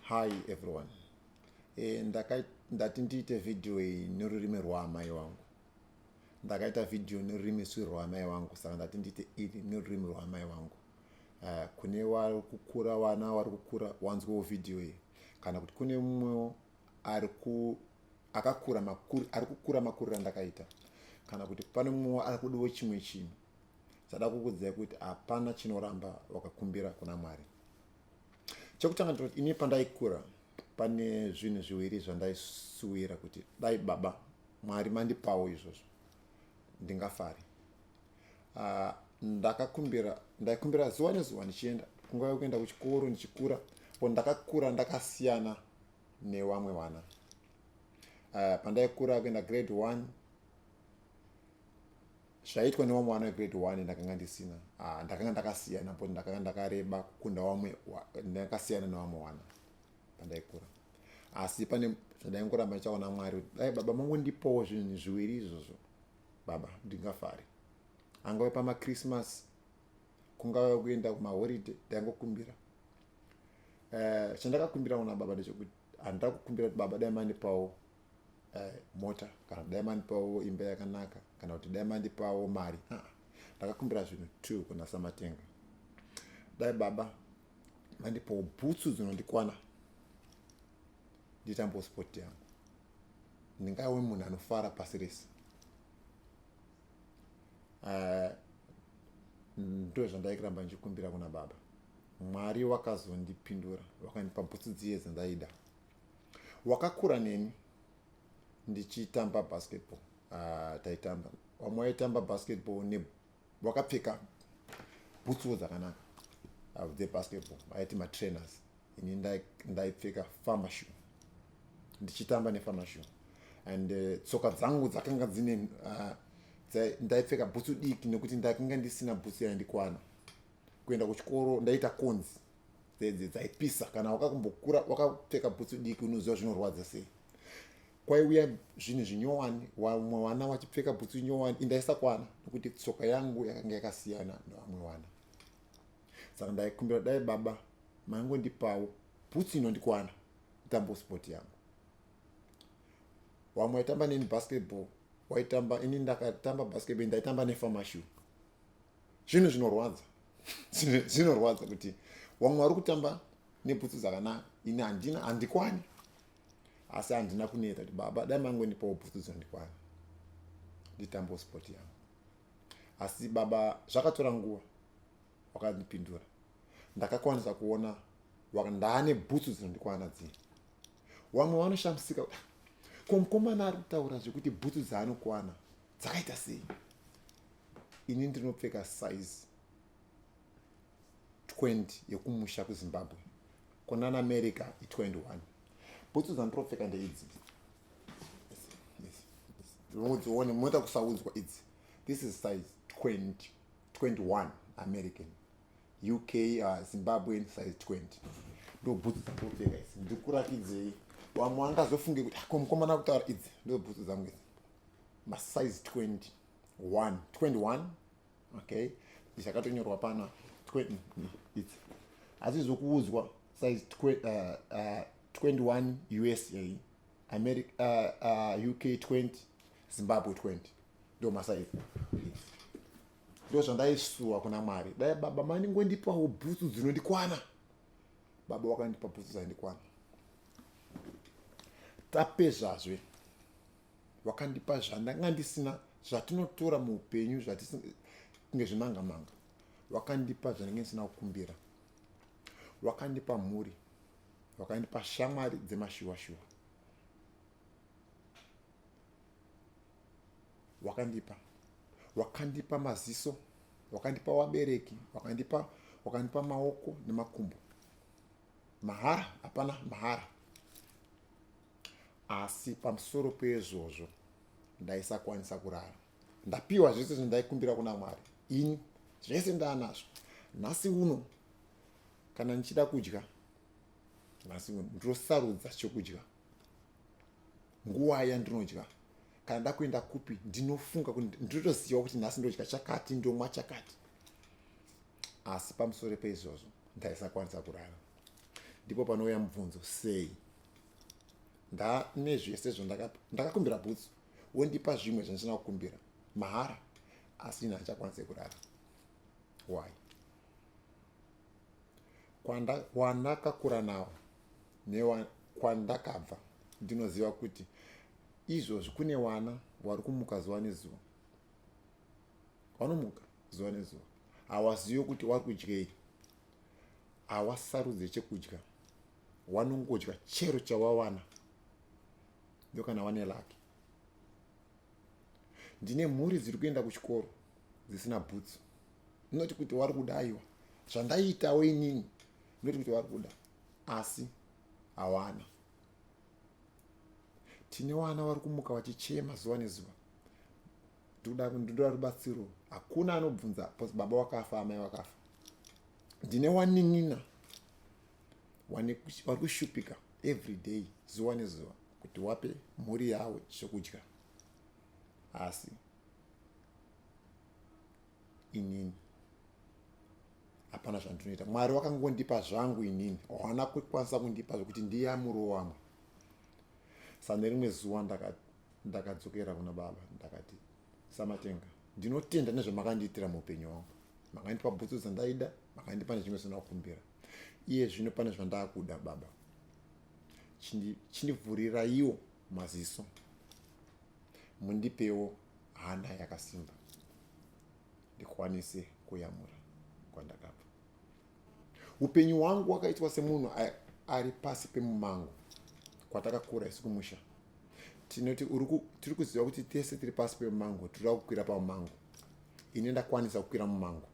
hi everyone e, ndaka, ndati ndiite vhidhiyo iyi nerurimi rwaamai wangu ndakaita vhidhiyo nerurimi swi rwaamai wangu saka ndati ndiite iri nerurimi rwaamai wangu uh, kune vari kukura vana vari kukura wanzwewo vhidhiyo iyi kana kuti kune mumwewo ari ku akakura makuri ari kukura makuriro andakaita kana kuti pane mumwewo ari kudiwo chimwe chinhu zada kukudzai kuti hapana chinoramba wakakumbira kuna mwari chekutanga ndinoti ini pandaikura pane zvinhu zviwiri zvandaisuwira kuti dai baba mwari mandipawo izvozvo ndingafari uh, ah, ndakakumbira ndaikumbira zuva nezuva ndichienda kunguva yekuenda kuchikoro ndichikura po ndakakura ndakasiyana newamwe vana uh, pandaikura kuenda grade one zvaitwa nevamwe vana vegrade one ndakanga ndisina ah, ndakanga ndakasiyana but ndakanga ndakareba kukunda vamwe ndakasiyana nevamwe wana pandaikura asi pane zvandaingoramba ndichaona mwari kuti dai baba mangu ndipowo zvinhu zviviri izvozvo baba ndingafari angave pamachristmas kungave kuenda kumaholiday ndaingokumbira eh, chandakakumbira kuna baba ndechekuti handida kukumbira kuti baba dai mandipawo uh, mota kana dai mandipawo imba yakanaka kana kuti dai mandipawo mari ah, ndakakumbira zvinhu two kuna samatenga dai baba mandipawo bhutsu dzinondikwana nditambo sport yangu ndingawe munhu anofara pasi rese eh, ndo zvandaikiramba ndichikumbira kuna baba mwari wakazondipindura wakandipa bhutsu dziye dzandaida wakakura neni ndichitamba basketball uh, taitamba vamwe waitamba basketball ne wakapfeka bhutsuwo dzakanaka ah, dzebasketball aiti matrainers ini ndaipfeka famashu ndichitamba nefamashu and eh, tsoka uh, dzangu dzakanga dzine uh, ndaipfeka bhutsu diki nekuti ndakanga ndisina bhutsu yaindikwana kuenda kuchikoro ndaita conzi dzedze dzaipisa kana wakakumbokura wakapfeka bhutsu diki unoziva zvinorwadza sei kwaiuya zvinhu zvinyowani vamwe vana vachipfeka bhutsu nyowani indaisakwana nekuti tsoka yangu yakanga yakasiyana nevamwe vana saka ndaikumbira dai baba maingondipawo bhutsu inondikwana itambo sport yangu vamwe vaitamba neni basketball waitamba ini ndakatamba basketball ndaitamba nefamashu zvinhu zvinorwadza zvinorwadza kuti vamwe vari kutamba neputsu dzakanaka ini handina handikwani asi handina kuneta kuti baba dai mangondipawo putsu dzinondikwana nditambo sport yangu asi baba zvakatora nguva wakandipindura ndakakwanisa kuona ndaane bhutsu dzinondikwana dzii vamwe vanoshamisika ko mukomana ari kutaura zvekuti bhutsu dzaanokwana dzakaita sei ini ndinopfeka size 20 yekumusha kuzimbabwe kunana america i21 bhutsu dzandiropfeka ndeidzi udzione moita kusaudzwa idzi this is size 20 21 american uk uh, zimbabwean size 20 ndo bhutsu dzandiropfeka idzi ndikurakidzei vamwe vangazofunge kuti ah, ko mukomana kutaura idzi ndo bhutsu dzangu idzi masize 21 21 okay zvakatonyorwa pana its asi zvokuudzwa size 21 usa america uh, uh, uk 20 zimbabwe 20 ndo masaizi ndo zvandaisuwa kuna mwari dai baba mandingondipawo bhutsu dzinondikwana baba wakandipa bhutsu dzaindikwana tapezvazve wakandipa zvandanga ndisina zvatinotora muupenyu zvatinge zvimanga manga wakandipa zvanenge ndisina kukumbira wakandipa mhuri wakandipa shamwari dzemashuwa shuwa wakandipa wakandipa maziso wakandipa wabereki wakandipa wakandipa maoko nemakumbo mahara hapana mahara asi pamusoro peizvozvo ndaisakwanisa kurara ndapiwa zvese zvindaikumbira kuna mwari ini zvese ndaanazvo nhasi uno kana ndichida kudya nhasi uno ndosarudza chokudya nguva yandinodya kana nda kuenda kupi ndinofunga kuti ndinotoziva kuti nhasi ndodya chakati ndomwa chakati asi pamusoro peizvozvo ndaisakwanisa kurara ndipo panouya mubvunzo sei ndane zvese zvandakakumbira bhutsu wondipa zvimwe zvandisina kukumbira mahara asi ini handichakwanise kurara why kwandakakura nawo nekwandakabva ndinoziva kuti izvozvi kune wana wari kumuka zuva nezuva wanomuka zuva nezuva hawazivi kuti wari kudyei hawasarudze chekudya wanongodya chero chawawana ndo kana wane laki ndine mhuri dziri kuenda kuchikoro dzisina bhutsu ndinoti kuti wari kuda aiwa zvandaiitawo inini ndinoti kuti wari kuda asi hawana tine wana vari kumuka vachichema zuva nezuva ndikuda ndinoda rubatsiro hakuna anobvunza bcause baba wakafa amai wakafa ndine waninina vari kushupika every day zuva nezuva kuti wape mhuri yavo zvekudya asi inini hapana zvandinoita mwari wakangondipa zvangu inini hawana kukwanisa kundipa zvekuti ndiyamuro wamwe sa nerimwe zuva ndakadzokera kuna baba ndakati samatenga ndinotenda nezvamakandiitira muupenyu wangu makandipa bhutsu dzandaida makandipa nezvimwe zvinokumbira iye zvino pane zvandakuda baba chindivhuriraiwo maziso mundipewo hana yakasimba ndikwanise kuyamura kwandakabva upenyu hwangu wakaitwa semunhu ari pasi pemumango kwatakakura isu kumusha tinoti tiri kuziva kuti tese tiri pasi pemumango tiri kukwira pamumango ini ndakwanisa kukwira mumango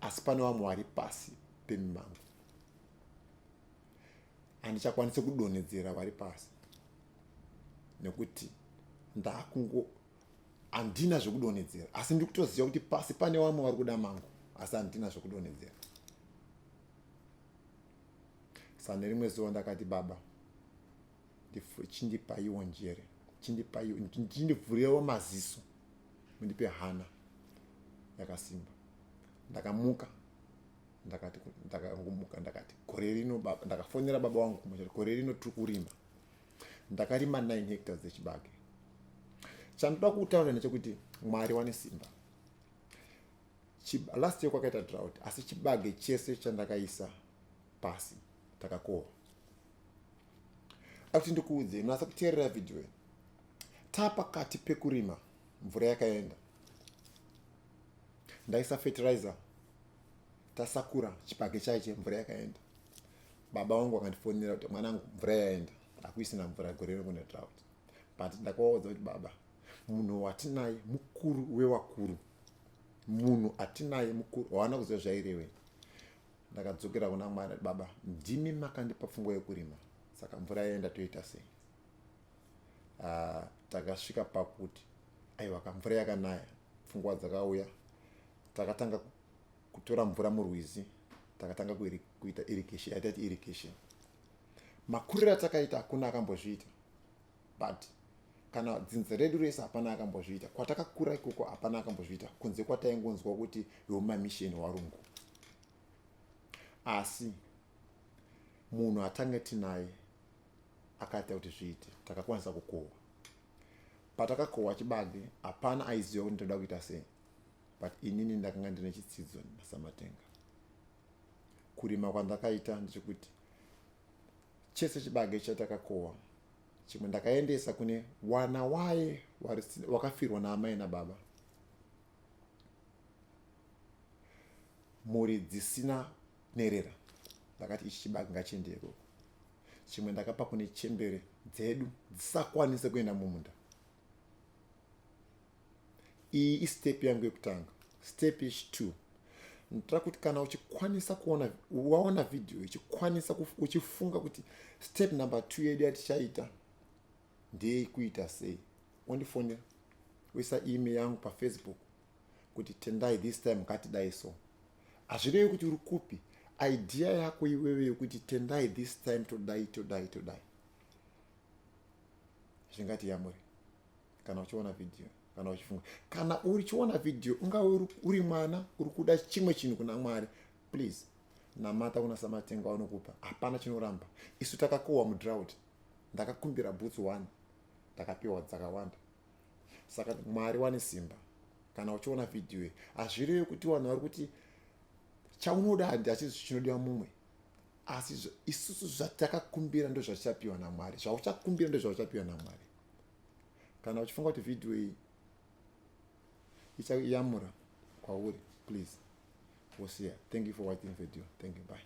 asi pane vamwe vari pasi pemimango handichakwanise kudonhedzera vari pasi nekuti ndakungo handina zvekudonhedzera asi ndiri kutoziva kuti pasi pane vamwe vari kuda mangu asi handina zvekudonhedzera sa nerimwe zuva ndakati baba chindipaiwo njere chindipaiwo chindivhurewo maziso mundipe hana yakasimba ndakamuka ndakati ndakangumuka ndakati gore rino baba ndakafonera baba wangu kumusha gore rino tiri kurima ndakarima 9 hectares dzechibage chandoda kutaura nechekuti mwari wane simba last year kwakaita drought asi chibage chese chandakaisa pasi takakohwa akuti ndikuudzei munasa kuteerera vhidhiyo taa pakati pekurima mvura yakaenda ndaisa fertilizer tasakura chipage chaiche mvura yakaenda baba vangu vakandifonera kuti mwanangu mvura yaenda akuisina mvura gore rekune drought but ndakavaudza kuti baba munhu watinaye mukuru wewakuru munhu atinaye mukuru waana kuziva zvairevei ndakadzokera kuna mwari baba ndimi makandipa pfungwa yekurima saka mvura yaenda toita sei ah, takasvika pakuti aiwa ka mvura yakanaya pfungwa dzakauya takatanga kutora mvura murwizi takatanga kuita irrigation yataiti irrigation makuriro atakaita hakuna akambozviita but kana dzinza redu rese hapana akambozviita kwatakakura ikoko hapana akambozviita kunze kwataingonzwa kuti wemamisheni warungu asi munhu atange tinaye akaita kuti zviite takakwanisa kukohwa patakakohwa chibage hapana aiziva kuti ndoda kuita sei but inini ndakanga ndine chitsidzo nasamatenga kurima kwandakaita ndechekuti chese chibage chatakakohwa chimwe ndakaendesa kune wana waye wakafirwa naamai nababa mhuri dzisina nherera ndakati ichi chibaki ngachiende ikoko chimwe ndakapa kune chembere dzedu dzisakwanise kuenda mumunda iyi istep yangu yekutanga step yechitwo nditira kuti kana uchikwanisa kuona waona vhidhiyo ichikwanisa uchifunga kuti step number two yedu yatichaita ndeyei kuita sei ondifonera uisa ime yangu pafacebook kuti tendai this time ngatidai so hazvirevi kuti uri kupi idea yako iwewe yokuti tendai this time todai todai todai zvingati yamuri kana uchiona vhidhiyo kana uchifunga kana uchiona vhidhiyo ungave uri mwana uri kuda chimwe chinhu kuna mwari please namata kuna samatenga wanokupa hapana chinoramba isu takakohwa mudrout ndakakumbira boots one ndakapiwa dzakawanda saka mwari wane simba kana uchiona vhidhiyo iyi hazvirevi kuti vanhu vari kuti chaunoda handi hachisi chinodiwa mumwe asi isusu zvatakakumbira ndozvatichapiwa namwari zvauchakumbira ndozvauchapiwa namwari kana uchifunga kuti vhidhiyo iyi ichayamura kwauri please wosiya thank you for watching video thank you bye